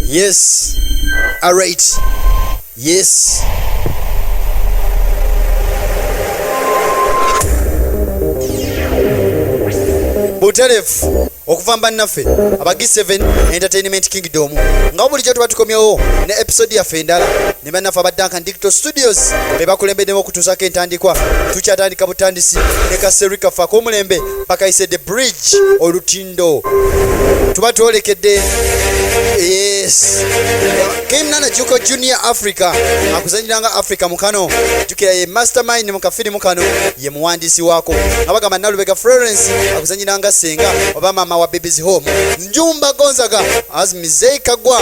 Yes. All right. Yes. Buterefu okuva mbannaffe abagi 7 entertainment kingdom nga bulijjo tuba tukomyewo ne episode yaffe endala ne bannaffe aba Duncan Digital Studios be bakulembeddemu okutuusako entandikwa tukyatandika butandisi ne kaseeri kaffe ak'omulembe bakayise the bridge olutindo tuba twolekedde yes kemnana juko junior africa akuzanyiranga africa mukano jukira ye mastermind mu kafirimu kano ye muwandiisi waako nga bagamba nalubega florence akuzanyiranga senga oba maama wa babies home njumba gonzaga as mizei kagwa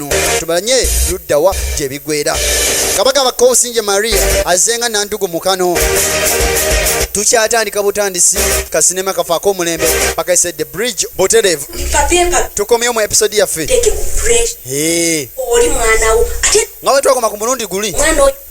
tumanye luddawa gye bigwera nga bagamba kobusinje maria azze nga nandugu mukano tukyatandika butandisi kasinema kafaako omulembe bakayise the bridge buterevu tukomyewo mu episode yaffe nga wetwakoma ku mulundi guli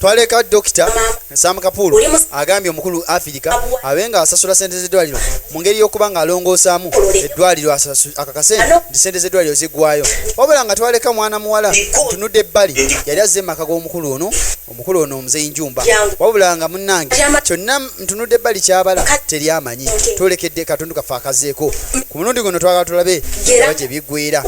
twaleka dokita sam kapuulu agambye omukulu afirika abe nga asasula sente z'eddwaliro mu ngeri y'okuba ng'alongoosaamu eddwaliro akakase nti sente z'eddwaliro ziggwayo wabula nga twaleka mwana muwala tunudde ebbali yali azze mu maka g'omukulu ono omukulu ono omuzeyi njumba wabula nga munnange kyonna ntunudde ebbali kyabala teri amanyi tolekedde katundu kaffe akazeeko ku mulundi guno twagala tulabe oba gye biggwera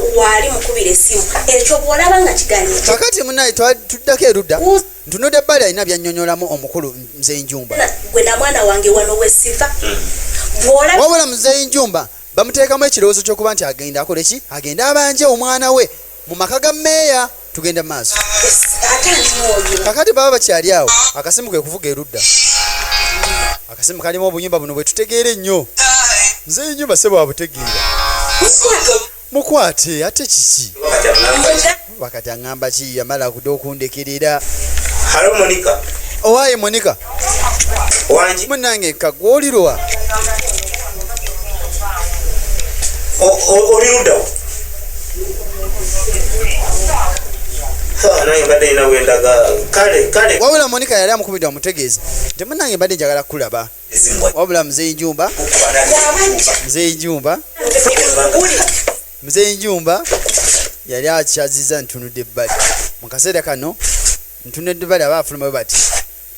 kakati munaye tuddako erudda ntunudde ebbali alina byanyonyolamu omukulu mzee njumba wabula mzee njumba bamuteekamu ekirowoozo ky'okuba nti agenda akole ki agenda abanje omwana we mu maka ga meeya tugenda maaso kakati baba bakyali awo akasimu ke kuvuga erudda akasimu kalimu obuyimba buno bwetutegeera ennyo nze enyumba sebo abutegeera mukwate ate kiki bakati aŋamba ki yamala kuda okundekerera owaye monika wangi munange kagwolirwa olirudawo wabula monika yali amukubidde amutegeeza nti munange mbadde njagala kulaba wabula mzeyi njumba mzeyi njumba mzeyi njumba yali akyaziza ntunudde ebbali mu kaseera kano ntunda edduba lyaba afuluma bwe bati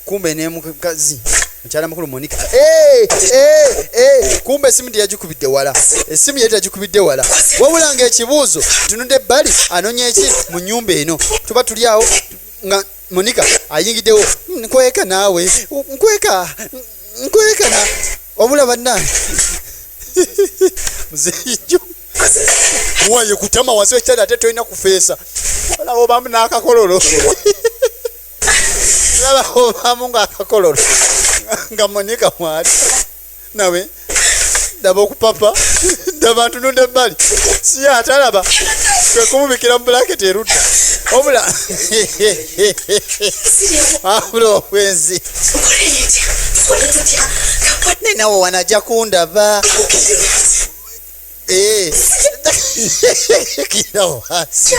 kumbe ne mukazi mukyala mukulu monika eh, eh, eh. kumbe esimu teyagikubidde wala esimu yali tagikubidde wala wabula nga ekibuuzo tunudde ebbali anonya eki mu nyumba eno tuba tuli awo nga monika ayingiddewo hmm, nkweka naawe nkweka nkweka na wabula banna muzeijo waye kutama wase ekyali ate tolina kufeesa olaba obamu n'akakololo olaba obamu ng'akakololo nga monika mwali nawe daba okupapa daba ntunudde ebbali siye atalaba kwekumubikira mu bulaketi erudda obula abula obwenzi naye nawe wanaja kundaba Eh. Kira wasi.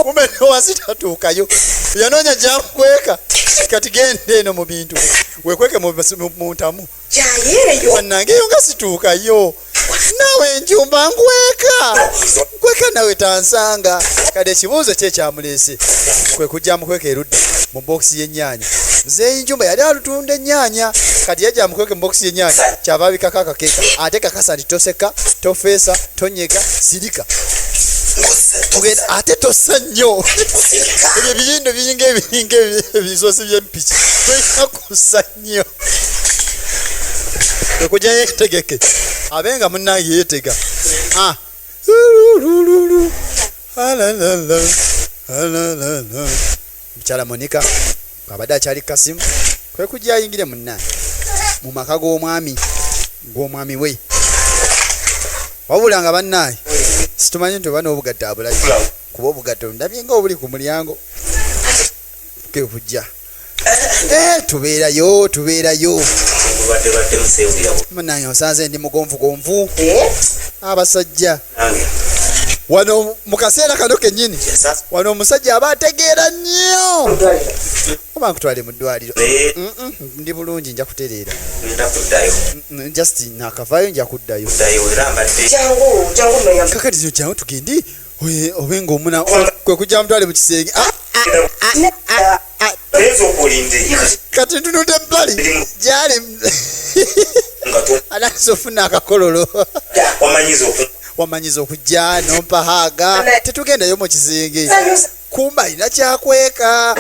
Mume wasi tatuukayo. Yanoonya gyakukweka. Kati genda eno mu bintu. Wekweke mu ntamu. Gyayeeyo. Bannange eyo nga situukayo. Nawe njumba nkweka. Nkweka nawe tansanga. Kati ekibuuzo kye kyamuleese. Kwe kujja mukweka erudda. mu bokisi y'ennyaanya muzeeyi njumba yali alutunda ennyaanya kati yajja mukweke mu bokisi y'ennyaanya kyava abikako akakeeka ate kakasa nti toseka tofeesa tonyega sirika ate tosa nnyo ebyo ebiyindo biringa ebiringa ebisosi byempiki tolina kusa nnyo okuja yetegeke abe nga munange yetega ah. lulululu alalala alalala omukyala monika bwabadde akyali kasimu kwekujja ayingire munna mu maka g'omwami gw'omwami we wabula nga bannaaye situmanyi nti oba n'obugatto abulayo kuba obugatto ndabye nga obuli ku mulyango kwekujja eh, tubeerayo tubeerayo munange osanze ndi mugonvugonvu eh? abasajja wano mu kaseera kano kenyini wano omusajja aba ategeera nnyo oba nkutwale mu ddwaliro eh. ndi bulungi nja kutereera just nakavayo nja kuddayo kakati zino kyangu tugende obe ngaomuna kwe kujja mutwale mu kisenge ah, ah, ah, kati ntunudde ebbali gyali anansi ofuna akakololo wamanyiza okujja nompa haaga tetugendayo mu kizingi kumba alina kyakweka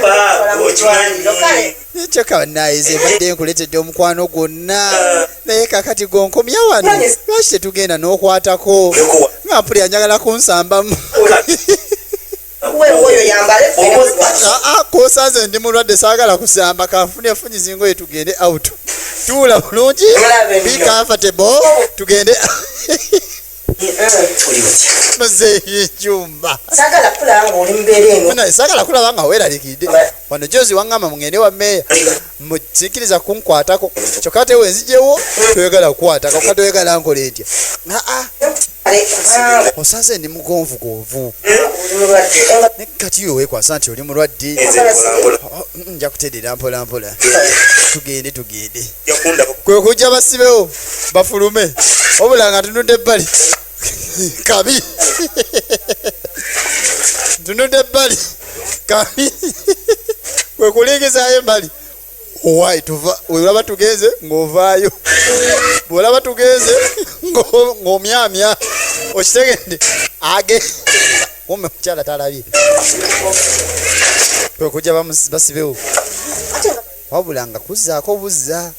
kyoka banayize mbadde nkuletedde omukwano gwonna naye kakati gonkomya wano lwaki tetugenda n'okwatako nga mpulira njagala kunsambamu kosanze ndi mulwadde saagala kusamba kanfune funyi zingoye tugende out tuula bulungi be comfortable tugende muzeeyi ekyumba sagala kulaba nga weeralikidde wano jozi wangamba mugende wa meeya musikiriza kunkwatako kyokka te wenzijewo toyagala kukwatako ka toyagala nkola etya naa osaze ndi mugonvu gonvu ne kati yo wekwasa nti oli mulwadde oh, mm, nja kutereera mpolampola tugende tugende kwe kujja basibewo bafulume obulanga tunudde ebbali kabi ntunudde ebbali kabi kwekulingizayo embali owayi tuva olaba tugenze ng'ovaayo bwolaba tugenze ng'omyamya okitegende age kumbe mukyala talabye kwekujja basibewo wabula nga kuzzaako buzza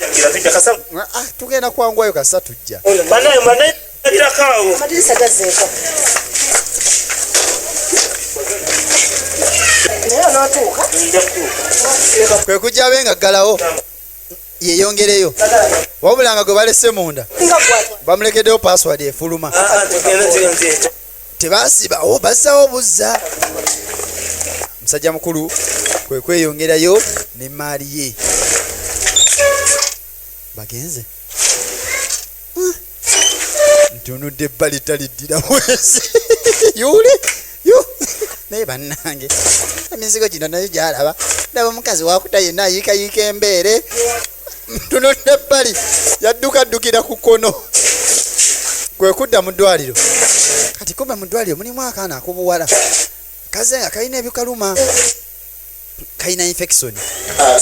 ah, tugenda kwanguwayo kasita tujja kwe kujja be nga ggalawo yeyongereyo wabula nga gwe balese munda bamulekeddewo password efuluma ah, ah, tebasibawo oh, bazzawo buzza musajja mukulu kwe kweyongerayo n'emmaali ye bagenze ntunudde ebbali taliddira mwezi yuli naye bannange emizigo gino nayo gyalaba laba omukazi wakuta yenna ayiikayiika embeere ntunudde ebbali yadduka ddukira ku kkono kwe kudda mu ddwaliro kati kumbe mu ddwaliro mulimu akaana akubuwala kaze nga kalina ebikaluma kalina infection ah,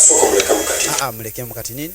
ah, mulekemu kati nini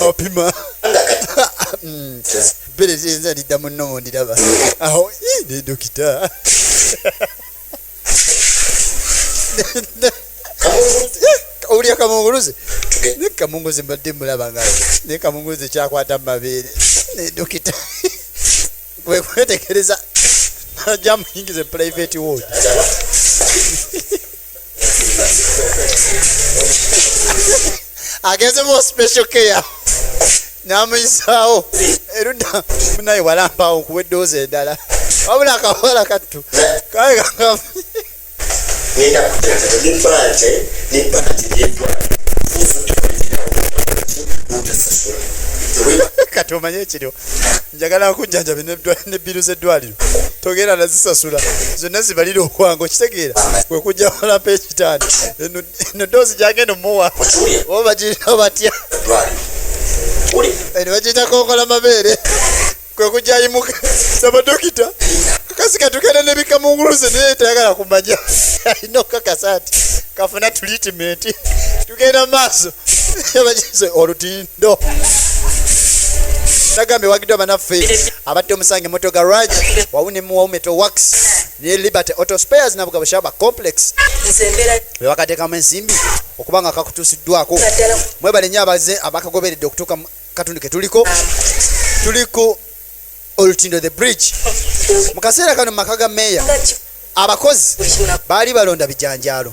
opima bere lyenza lidda mu nnomu ndiraba awo ne dokita owulira kamunguluze ne kamunguluze mbadde mulaba nga ne kamunguluze kyakwata mu mabeere ne dokita wekwetegereza ajja muyingize private ward agezemu special care namuyisaawo erudda munaye walampaawo nkuwa eddoozi endala wabula akawala kattu kaeganga kati omanye ekiriwo njagala nkujjanjabi ne bbiru z'eddwaliro togenda nazisasula zonna zibalira okwange okitegeera kwekujja walapa ekitanda eno doozi gyagenda omuwa oba bagirina batya eno bagiyita kokola mabeere kwekujja ayimuka sabadokita kasi katugenda nebika mu ngulu ze naye tayagala kumanya alina okukakasa nti kafuna tulitimenti tugenda maaso olutiini do nagambye wagiddwa banaffe abadde omusange moto garage wawune muwaumeto wax ne liberty auto spairs nabugabo shaba complex webakateekamu ensimbi okuba nga kakutuusiddwako mwebale nyo abaze abakagoberedde okutuuka katundu ketuliko tuliku olutindo the bridge mu kaseera kano mu maka ga meeya abakozi baali balonda bijanjaalo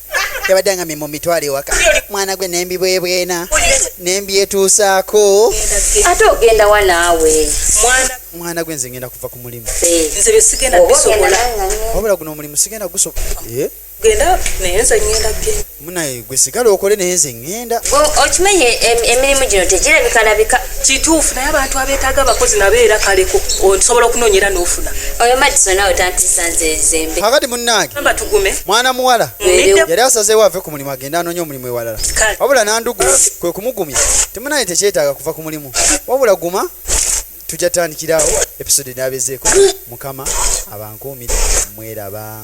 yabadde nga mu mitwalo ewaka mwana gwe nembibwebwena nembyetuusaako ate ogenda wa naawe mwana gwe nze ngenda kuva ku mulimu wabula guno omulimu sigenda gusobola eh? munaye gwe sigala okole naye nze ngenda okimanyi emirimu gino tegirabikalabika kituufu naye abantu abetaaga abakozi nabo era kaleko osobola okunoonya era n'ofuna oyo madiso nawe tantisanzezembe kakati munnange amba tugume mwana muwala yali asazeewo ave ku mulimu agenda anoonya omulimu ewalala wabula nandugu kwe kumugumya temunaye tekyetaaga kuva ku mulimu wabula guma tujja tandikirawo episode nabezeeko mukama abankuumire mweraba